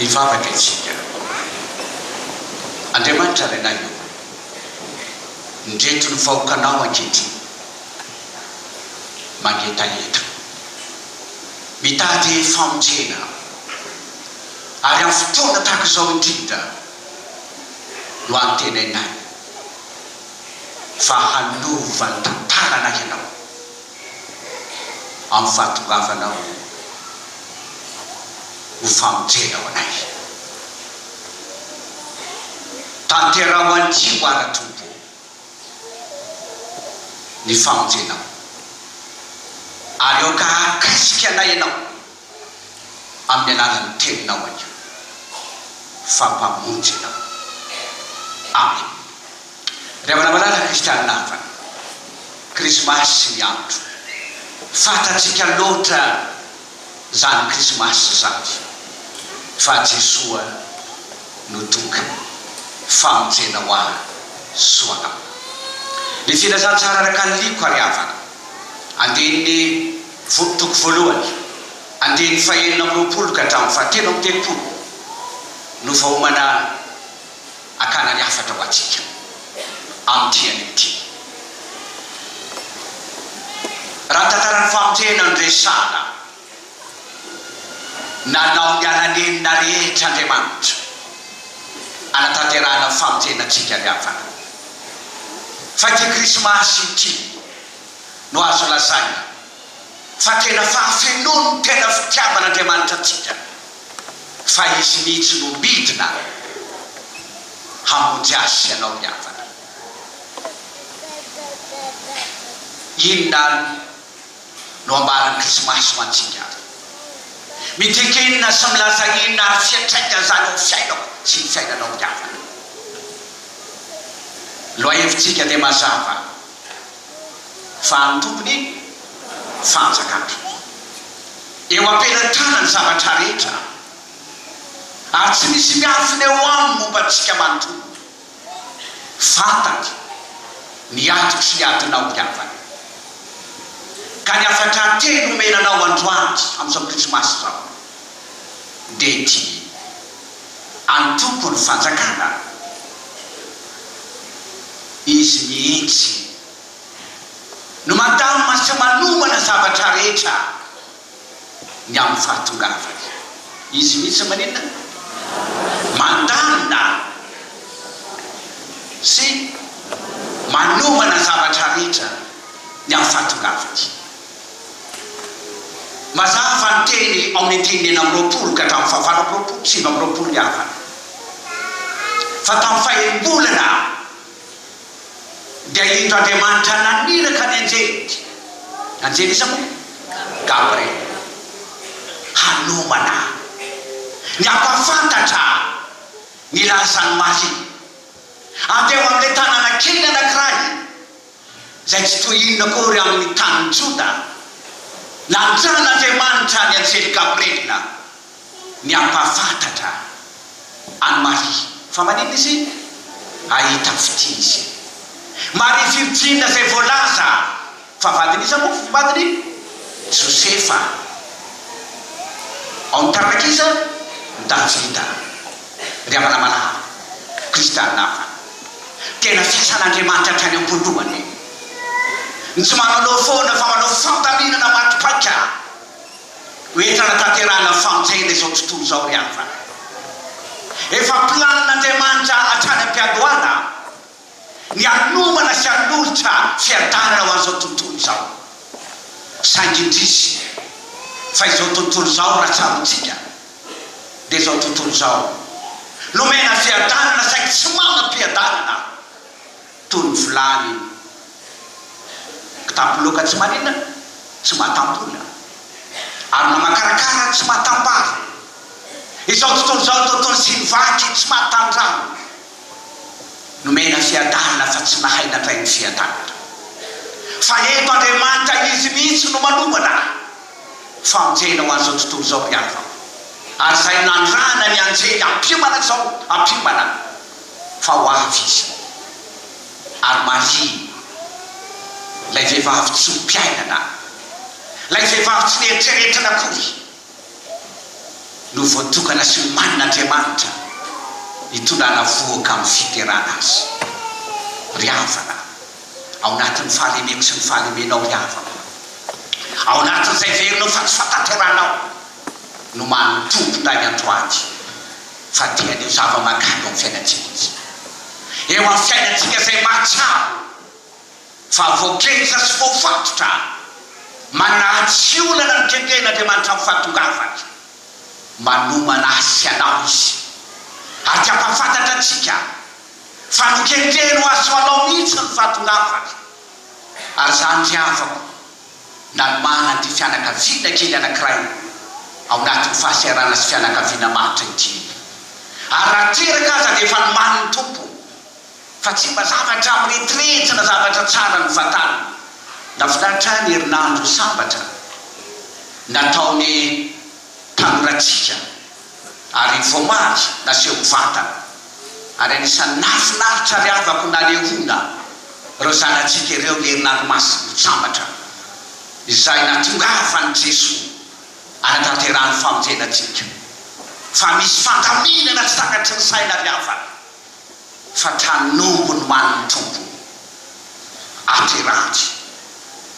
Hivavaka isika. Andriamanitra Renay ô, ndreto ny vahoakanao ankehitriny mangetaheta, mitady famonjena, ary amin'ny fotoana tahaka izao indrindra no antenainay fa hanova ny tantananay Ianao. amin'ny fahatongavana ho ho famonjena ho anay. Tanteraho an'ity ho ara-tompo ny famonjenao, ary aoka hahakasika anay Ianao. amin'ny alalan'ny Teninao anio, fa Mpamonjy Ianao. Amena. Ry havana malala kristianina havana, Krismasy ny andro. Fantatsika loatra izany Krismasy izany, fa Jesoa no tonga, famonjena ho ahy soa anao. Ny filazantsara ara-kanoliko, ary havana, andinin'ny. Voky toko voalohany, andininy fahenina amby roapolo ka hatramin'ny fahatelo amby telopolo no vaomana akana ny hafatra ho antsika amin'ity anio ity. Raha ny tantaran'ny famonjena no resahana, nanao ny alanenina rehetra Andriamanitra hanatanterahana ny famonjena antsika ny hafatra. Fa ity Krismasy ity. no azo lazaina fa tena fahafenoan' ny tena fitiavan' Andriamanitra antsika, fa Izy mihitsy no midina hamonjy ahy sy ianao miavaka. Inona àry no ambaran' ny Krismasy ho antsika àry? Midika inona sy milaza inona ary fiantraikan' izany eo amin'ny fiainako sy ny fiainanao miavaka? Ny lohahevin-tsika dia mazava. fa amin'ny Tompon'ny fanjakana. Eo am-pelan-tanany zavatra rehetra, ary tsy misy miafina eo aminy momba antsika manontolo. Fantany ny adiko sy ny adinao ny havany, ka ny hafatra teny nomena anao androany amin'izao Krismasy izao dia ity. Antoko ny fanjakana? Izy mihitsy no mandamina sy manomana zavatra rehetra ny amin'ny fahatongavany. Izy mihitsy maninona? Mandamina sy manomana zavatra rehetra ny amin'ny fahatongavany. Mazava fa ny teny ao amin'ny andininy enina amby roapolo ka hatramin'ny fahavalo amby roapolo, sivy amby roapolo mihavana. Fa tamin'ny faherim-bolana dia indro Andriamanitra naniraka ny anjeliny, anjely iza moa? Gabriela, hanomana ny hampahafantatra ny lazan'i Maria. Andeha ho amin'ilay tanàna kely anankiray. izay tsy toy inona akory amin' ny tanin' Joda, nanjan' Andriamanitra ny anjely Gabriela ny hampahafantatra an' i Maria fa maninona izy hahita fitia izy. Maria virjina izay voalaza fa vadin' iza moa? Vadin' i Josefa ao amin' ny taranak'iza? Davida. Ry havana malala, Kristianina hafa, tena fiasan'Andriamanitra hatrany am-pondohany e! Ny tsy mananao foana fa manao fandaminana maty paika ho entina hanatanterahana ny famonjena izao tontolo izao ry havana. Efa planin'Andriamanitra hatrany am-piandohana. ny hanomana sy hanolotra fiadanana ho an'izao tontolo izao. Saingy indrisy fa izao tontolo izao raha tsaroantsika dia izao tontolo izao nomena fiadanana saingy tsy manam-piadanana toy ny vilany kitapo loaka tsy maninona tsy matam-bola ary mamakarakara tsy matam-bary. Izao tontolo izao tontolo sinivaky tsy matan-drano. Nomena fiadanana fa tsy nahay nandray ny fiadanana. Fa eto Andriamanitra Izy mihitsy no manongana. Famonjena ho an'izao tontolo izao ry havako. Ary izay nandrahana ny anjely hampiomana izao hampiomana fa ho avy Izy. Ary marihina. Ilay vehivavy tsy ho mpiainana. Ilay vehivavy tsy nieritreritra akory. no voatokana sy nomanin' Andriamanitra hitondrana vohoka amin'ny fiterana azy. Ry havana, ao anatin'ny fahalemeko sy ny fahalemenao, ry havako, ao anatin'izay velona fa tsy fantanteranao, nomanin' ny Tompo indray andro ady fa tiany ho zava-mahagaga ao amin'ny fiainantsika Izy. Eo amin'ny fiainantsika izay mahatsiaro. Fa voakenja sy voafatotra mba naha tsy olana ny kenkehin'Andriamanitra amin'ny fahatongavany. Manomana ahy sy anao Izy, ary te hampahafantatra antsika fa nokenkeny ho azy ho anao mihitsy ny fahatongavany. Ary izany ry havako, nanomana an'ity fianakaviana kely anankiray ao anatin'ny fahaseharana sy fianakaviana maritra ity. Ary raha teraka aza dia efa nomanin'ny Tompo. Fa tsy mba zavatra miretrretra na zavatra tsara ny vatana. Nahafinaritra ahy ny herinandro sambatra nataon'ny mpanoratsika ary voamaly naseho mivantana. Ary anisan'ny nahafinaritra ary havako nanehoana ireo zanatsika ireo ny herinandro masina sambatra izay nahatongavan'i Jesoa hanatanterahany famonjena antsika. Fa misy fandaminana tsy takatry ny saina ry havana. fa tranombo no an'ny Tompo aty Ranjy.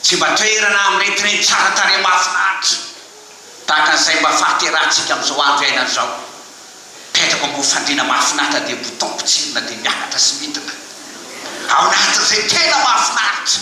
Tsy mba toerana miretirety tsara tarehy mahafinaritra tahaka izay mba fahaterahantsika amin'izao andro iainana izao. Mipetraka ambony fandriana mahafinaritra dia bouton potsirina dia miakatra sy midina ao anatin'izay tena mahafinaritra.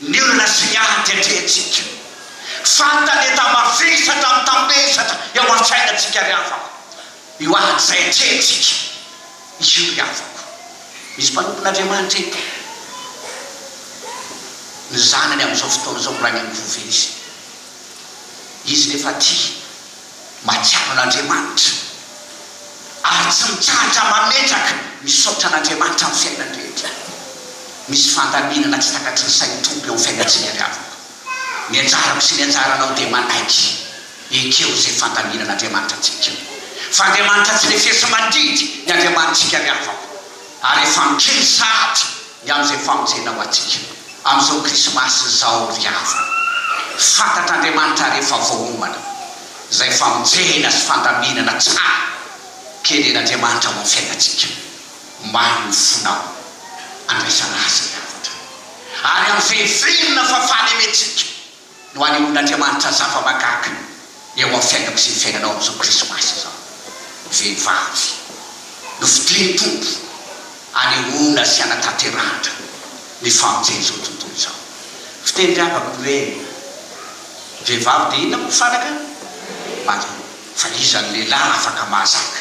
Ny olana sy ny ady atrehintsika fantaneta mavesatra mitambesatra eo an-tsainantsika ry havako. Io ady izay atrehintsika io ry havako. Misy mpanompon'Andriamanitra eto. Ny zanany amin'izao fotoana izao miraingam-po ve izy? Izy nefa tia. Mahatsiaro an'Andriamanitra ary tsy mitsahatra mametraka ny saotra an'Andriamanitra amin'ny fiainany rehetra. Misy fandaminana tsy takatry ny sain'ny Tompo eo amin'ny fiainantsika ry havako. Ny anjarako sy ny anjaranao dia manaiky ekeo izay fandaminan'Andriamanitra antsika. Fa Andriamanitra tsy lefeso mandidy ny Andriamanitsika ry havako, ary efa mikely sahady ny amin'izay famonjena ho antsika amin'izao krismasy izao ry havana, fantatr'Andriamanitra rehefa voaomana izay famonjena sy fandaminana tsara kenen'Andriamanitra ao amin'ny fiainantsika omaly ny fonao andraisana Azy ny hafatra ary amin'izay venona fa fahalemetsika. no anehoan'Andriamanitra zava-mahagaga eo amin'ny fiainako sy ny fiainanao amin'izao Krismasy izao. Vehivavy nofidin'ny Tompo hanehoana sy hanatanterahatra ny famonjen'izao tontolo izao. Fiteny miavaka ny hoe vehivavy dia inona moa fanaka? Maria. Fa iza no lehilahy afaka mahazaka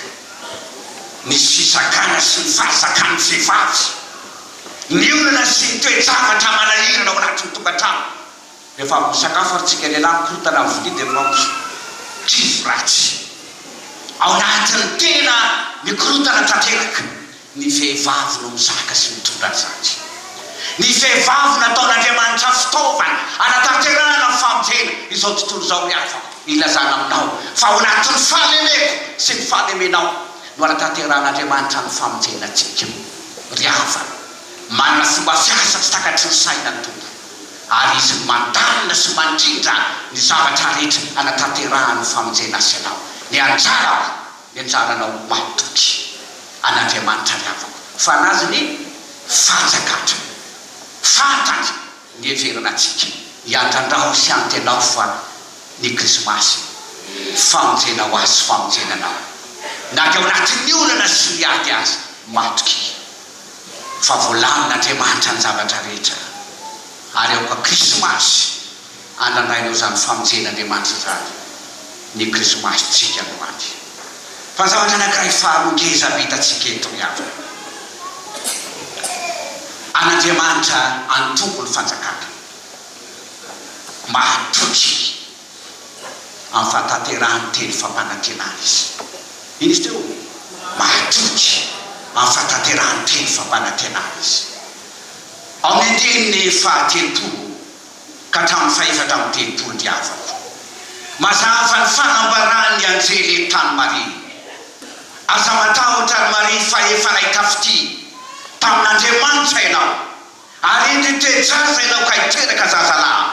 ny fizakana sy ny fahazakan'ny vehivavy ny olana sy ny toe-javatra manahirana ao anatin'ny tokantrano? Rehefa avy misakafo ary tsika lehilahy mikorontana amin'ny vilia dia miroso trivy ratsy ao anatin'ny tena mikorontana tanteraka. Ny vehivavy no mizaka sy mitondra ny zandry. Ny vehivavy nataon'Andriamanitra fitaovana hanatanterahana ny famonjena izao tontolo izao ry havako. Ilazana aminao fa ao anatin'ny fahalemeko sy ny fahalemenao no hanatanterahan'Andriamanitra ny famonjena antsika. Ry havana, manana fomba fiasa tsy takatry ny saina ny Tompo. ary izy mandalina sy mandrindra ny zavatra rehetra anatanterahan'ny famonjena azy ianao. Ny anjarako, ny anjaranao matoky an'Andriamanitra ny havako, fanazy ny fanjakandra. Fantany ny heverina antsika, iandrandrao sy antenao fa ny krismasy, famonjena ho azy sy famonjena anao, na dia ao anatin'ny olana sy ny ady aza, matoky. fa voalamin' Andriamanitra ny zavatra rehetra, ary aoka Krismasy andranainao izany famonjen' Andriamanitra izany, ny Krismasintsika androany. Fa zavatra anankiray faharoa ngeza avy hitantsika eto ry havana, an' Andriamanitra antombo ny fanjakany, mahatotry. amin'ny fahatanterahan'ny teny fampanantenana izy. Inona izy teo? Mahatoky amin'ny fahatanterahan'ny teny fampanantenana izy. Amin'ny andininy fahatelopolo ka hatramin'ny fahefatra amby telopolo diaviko, mazava ny fanambaran'ny anjely entan'i Maria, Aza matahotra, ry Maria, fa efa nahay tafitia tamin'Andriamanitra ianao. Ary eto io toejavy no ianao kay teraka zazalahy,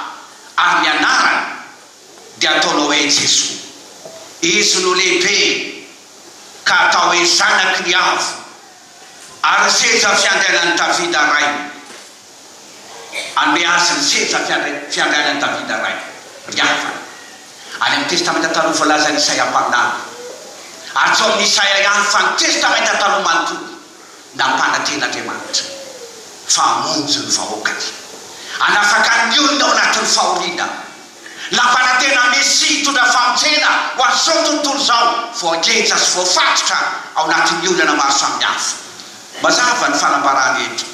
ary ny anarany dia ataonao hoe Jesoa. Izy no lehibe ka atao hoe Zanaky ny Avo, ary ny seza fiandrianan'i Davida rainy. Hanome azy ny seza fiandrianan'i Davida rainy, ry havana. Any amin'ny Testamenta Taloha voalazan'i Isaia mpaminany. Ary tsy ao amin'i Isaia ihany fa ny Testamenta Taloha manontolo. Nampananten'Andriamanitra fa hamonjy ny vahoakany, hanafaka ny olony ao anatin'ny fahoriana. Nampanantena Mesia hitondra famonjena ho an'izao tontolo izao voageja sy voafatotra ao anatin'ny olana maro samihafa. Mazava ny fanambarana eto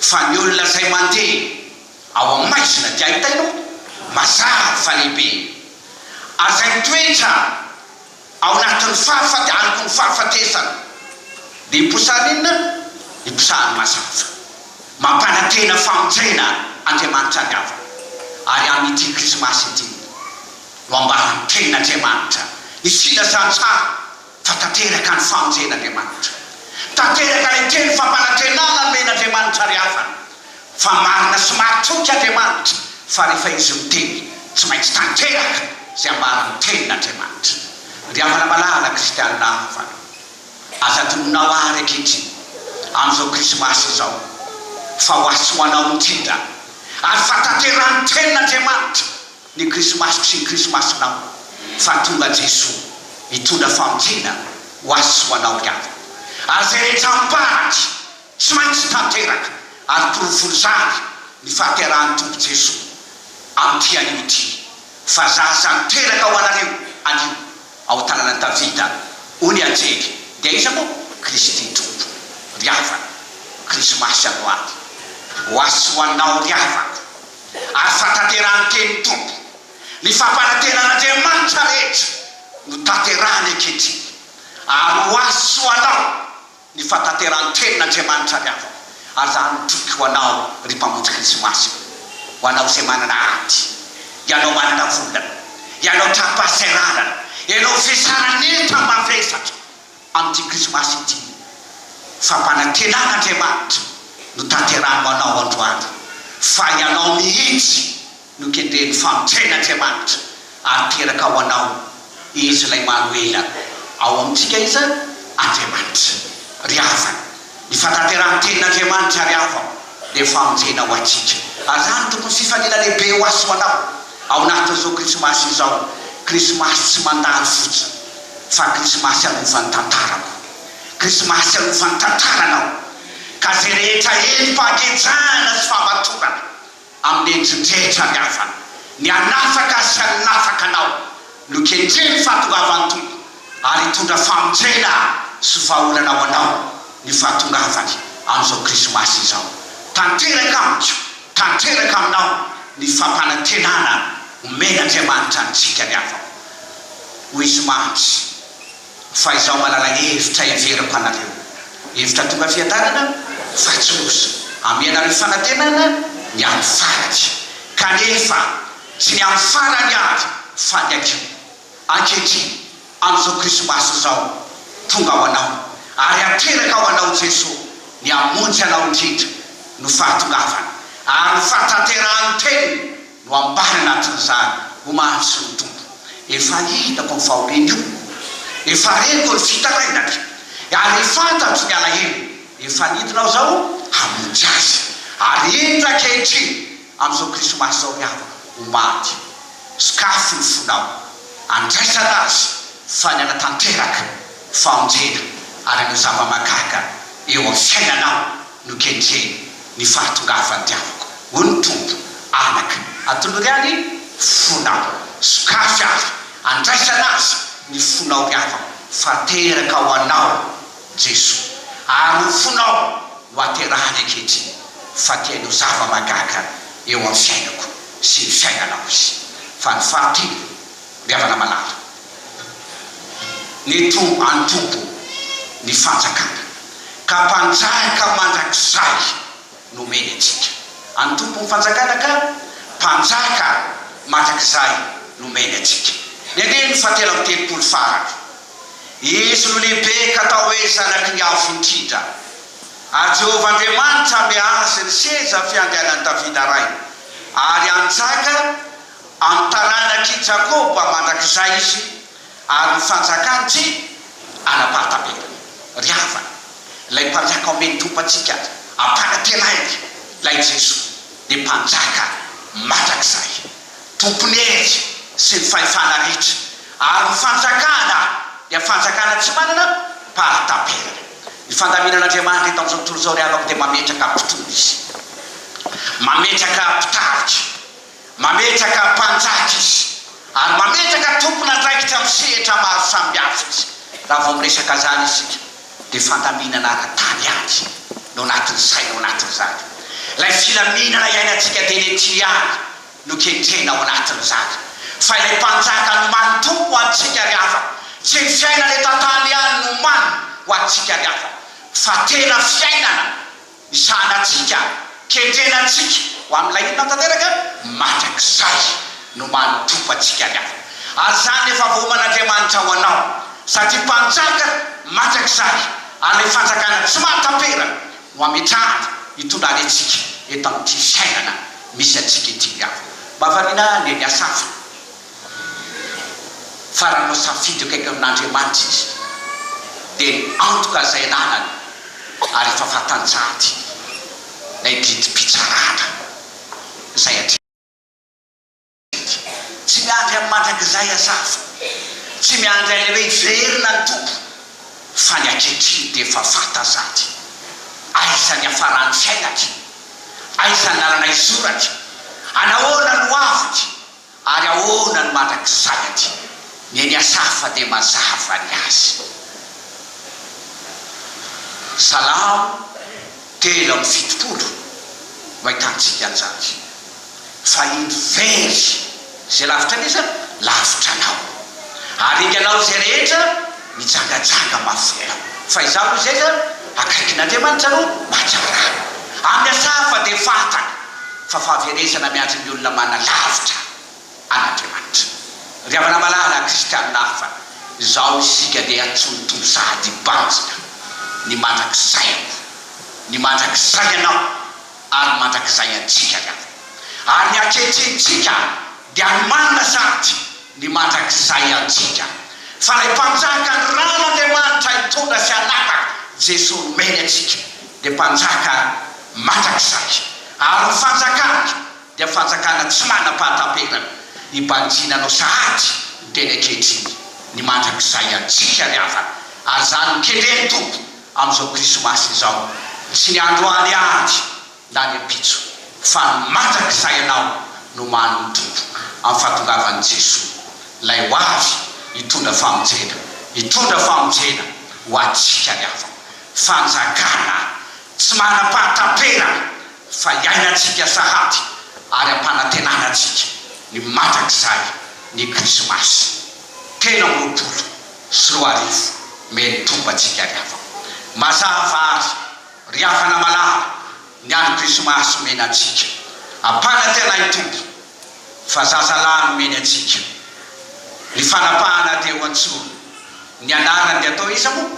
fa ny olona izay mandeha ao amin'ny maizina dia ahitana mazava fa lehibe aza ny toetra. Ao anatin'ny fahafaty aroko ny fahafatesana dia iposahan'ny inona? Iposahan'ny mazava. Mampanantena famonjena Andriamanitra ny havany. Ary amin'ity Krismasy ity no ambaran'ny Tenin'Andriamanitra ny filazantsara fa tanteraka ny famonjen'Andriamanitra. Tanteraka ilay teny fampanantenana nomen'Andriamanitra ry havana. Fa marina sy maritoa i Andriamanitra fa rehefa Izy miteny, tsy maintsy tanteraka izay ambaran'ny Tenin' Andriamanitra. Ry havana malala kristianina havana, aza adinonao àry ankehitriny, amin'izao Krismasy izao, fa ho azy sy ho anao indrindra ary fa tanterahan'ny Tenin' Andriamanitra ny Krismasiko sy ny Krismasinao, fa tonga Jesoa hitondra famintina ho azy sy ho anao ry havana, ary izay rehetra amim-paritra. Tsy maintsy tanteraka ary porofon'izany ny fahaterahan'ny Tompo Jesoa amin'ity anio ity, Fa za izany teraka ho anareo anio ao an-tananan'i Davida, hoy ny anjely, dia iza moa? Kristy Tompo. Ry havana, Krismasy androany ho ahy sy ho anao ry havako, ary fahatanterahan'ny tenin'ny Tompo, ny fampanantenan'Andriamanitra rehetra no tanterahany ankehitriny, ary ho ahy sy ho anao Ny fahatanterahan-tenin' Andriamanitra ny havako, ary za mitoky ho Anao, ry Mpamotry Krismasy ô. Ho Anao izay manana ady, Ianao manana volana, Ianao tra-pahasahiranana, Ianao izay saran'enta mavesatra, amin'ity Krismasy ity, fampanantenan' Andriamanitra no tanterahany ho Anao androany, fa Ianao mihitsy, Nokendrehin'ny famintraina Andriamanitra ary teraka ao anao Izy ilay Manoela. Ao amintsika Izy Andriamanitra. Ry havana, ny fantanterahan'ny Tenin'Andriamanitra ary havam dia famonjena ho antsika. Ary izany no tokony fifaliana lehibe ho azy ho anao ao anatin'izao Krismasy izao, Krismasy tsy mandalo fotsiny fa Krismasy hanovan'ny tantarako, Krismasy hanovan'ny tantaranao ka izay rehetra heno fahakejanana sy fahamatorana. amin'ny endri-drehetra ny havany. Ny hanafaka sy hanafaka anao no kendren'ny fahatongavan'ny Tompo, ary hitondra famonjena sy vahaolana ho anao ny fahatongavany amin'izao Krismasy izao. Tanteraka amiko, tanteraka aminao ny fampanantenana omen'Andriamanitra antsika ny havako. Hoy izy, Mandry. Fa izaho manana hevitra heveriko anareo, hevitra tonga fiadanana fa tsy loza, hamea anareo fanantenana ny amin'ny farany, kanefa tsy ny amin'ny farany avy fa ny hakiho. Ankehitriny, amin'izao Krismasy izao, tonga ho anao, ary ateraka ho anao Jesoa, ny hamonjy anao indrindra, no fahatongavany, ary ho fahatanterahan'ny Teniny. no ampahany anatin'izany, ho mahatso ny Tompo. Efa hitako io fahoriany io, efa reniko ny fitarainany, ary fantatro ny alahelo efa nidinao izao hamonjy azy. Ary indro ankehitriny, amin'izao Krismasy izao ry havana, ho maty, sokafy ny fonao, andraisana azy fa ny hanatanteraka famonjena ary hanao zava-mahagaga eo amin'ny fiainanao. Nokendreny ny fahatongavan-diavoko, hoy ny Tompo, anaka. Atolory any fonao, sokafy ary andraisana azy ny fonao ry havako, fa teraka ho anao Jesoa, ary ho fonao no aterahany ankehitriny, fa te hanao zava-mahagaga eo amin'ny fiainako sy ny fiainanao Izy. Fa ny fahatelo. Goavana malala. Ny tro antobo ny fanjakana. Ka mpanjaka mandrakizay nomeny antsika. Antobo ny fanjakana ka mpanjaka mandrakizay nomeny antsika. Ny andininy fahatelo amby telopolo farany. Izy no lehibe ka atao hoe zanaky ny Avo Indrindra. Ary Jehovah Andriamanitra hanome azy ny seza fiandrianan'i Davida rainy, ary hanjaka. Amin'ny taranak'i Jakoba mandrakizay izy, ary ny fanjakany tsy hanapatapetany. Ry havana, ilay Mpanjaka omen'ny Tompontsika ampanantenaina, ilay Jesoa, dia Mpanjaka mandrakizay, Tompon'ny hery sy ny fahefana rehetra, ary ny Fanjakana dia Fanjakana tsy manana pahataperana. Ny fandaminan'Andriamanitra eto amin'izao tontolo izao, ry havako, dia mametraka mpitondra Izy, mametraka mpitarika. Mametraka mpanjaka izy ary mametraka tompon'andraikitra amin'ny sehatra maro samihafa izy. Raha vao miresaka izany isika dia fandaminana ara-tany ihany no anatin'ny saina ao anatin'izany. Ilay filaminana iainantsika dia eny an-tily ihany no kendrena ao anatin'izany. Fa ilay mpanjaka no manompo ho antsika ry havana. Tsy ny fiainana eto an-tany ihany no omaniny ho antsika ry havana fa tena fiainana. ny sahanantsika, kendrena antsika ho amin'ilay olona tanteraka, mandrakizay no manotrofa antsika ny afo. Ary izany efa voaoman'Andriamanitra ho anao, satria Mpanjaka mandrakizay ary Fanjakana tsy mahataperana no ametrahany hitondra any antsika eto amin'ity fiainana misy antsika ity ny afo. Mahavariana ny hafa. fa raha hanao safidy eo akaiky amin'Andriamanitra izy dia ny antoka izay ananany ary efa fantanjady ilay didim-pitsarana izay hatreto. Tsy miandry amin'ny mandrakizay aza aho fa tsy miandry an'ilay hoe hiverina ny Tompo fa ny ankehitriny dia efa fantanjady aiza ny hiafaran'ny fiainako, aiza ny lalana hizorako, anahoana no ho aviko. Ary ahoana ny mandrakizay aty? Ny eny Asafa dia mazava ny azy. Salamo telo amby fitopolo no ahitantsika an'izany. Fa indro very izay lavitra an'izany, lavitra anao. Ary inganao izay rehetra. mijangajanga mafy ela. Fa izaho aloha izay zany akaikin'Andriamanitra no mahatsara ahy. Amin'ny hafa dia fantany fa fahaverezana miandry ny olona manana lavitra an'Andriamanitra. Ry havana malala kristianina hafa, izao isika dia atsonotony sahady banjina ny mandrakizay aloha, ny mandrakizay ianao ary ny mandrakizay antsika ry havana, ary ny ankehitrenintsika Dia nomanina sady ny mandrakizay antsika. Fa ilay mpanjaka ny rano Andriamanitra hitondra sy hanapaka, Jesoa nomeny antsika, dia mpanjaka mandrakizay. Ary ny fanjakany dia fanjakana tsy manam-pahataperana, hibanjina anao sahady ny teny ankehitriny, ny mandrakizay antsika ry havana. Ary izany no kendren'ny Tompo amin'izao Krismasy izao. Tsy ny androany ihany. lany ampitso fa ny mandrakizay ianao no mahano ny Tompo amin'ny fahatongavan'i Jesoa ilay ho avy hitondra famonjena hitondra famonjena ho antsika ny hafa fanjakana tsy manam-pahataperana fa iainantsika sahady ary ampanantenana antsika ny mandrakizay ny krisimasy telo amby roapolo sy roa arivo mey ny Tompo antsika ny hafa mazava ary Ry havana malala, ny andro krismasy omena antsika ampanantenay ny Tompo fa zaza lahy nomeny antsika, ny fanapahana dia ho antsoina ny anarany dia atao iza moa?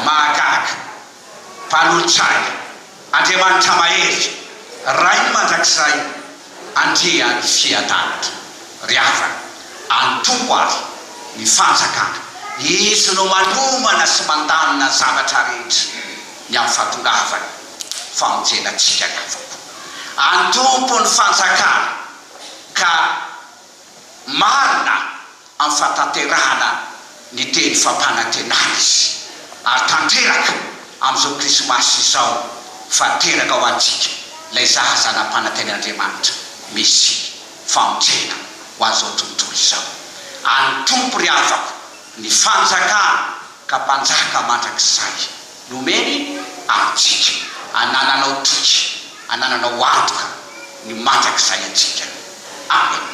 Mahagaga, Mpanolotsaina, Andriamanitra mahery, Rainy mandrakizay. Andria any fiadanatra ry havana, antompo ary ny fanjakana, izy no manomana sy mandamina ny zavatra rehetra, ny amin'ny fahatongavany famonjena antsika ny havako. Antompo ny fanjakana ka. marina amin'ny fahatanterahana ny teny fampanantenana izy ary tanteraka amin'izao krismasy izao fa teraka ho antsika ilay zaza zanampanantenaN'Andriamanitra Mesia famonjena ho an'izao tontolo izao any Tompo ry havako ny fanjakana ka mpanjaka mandrakizay Nomeny amintsika, anananao toky, anananao antoka ny mandrakizay antsika. Amena.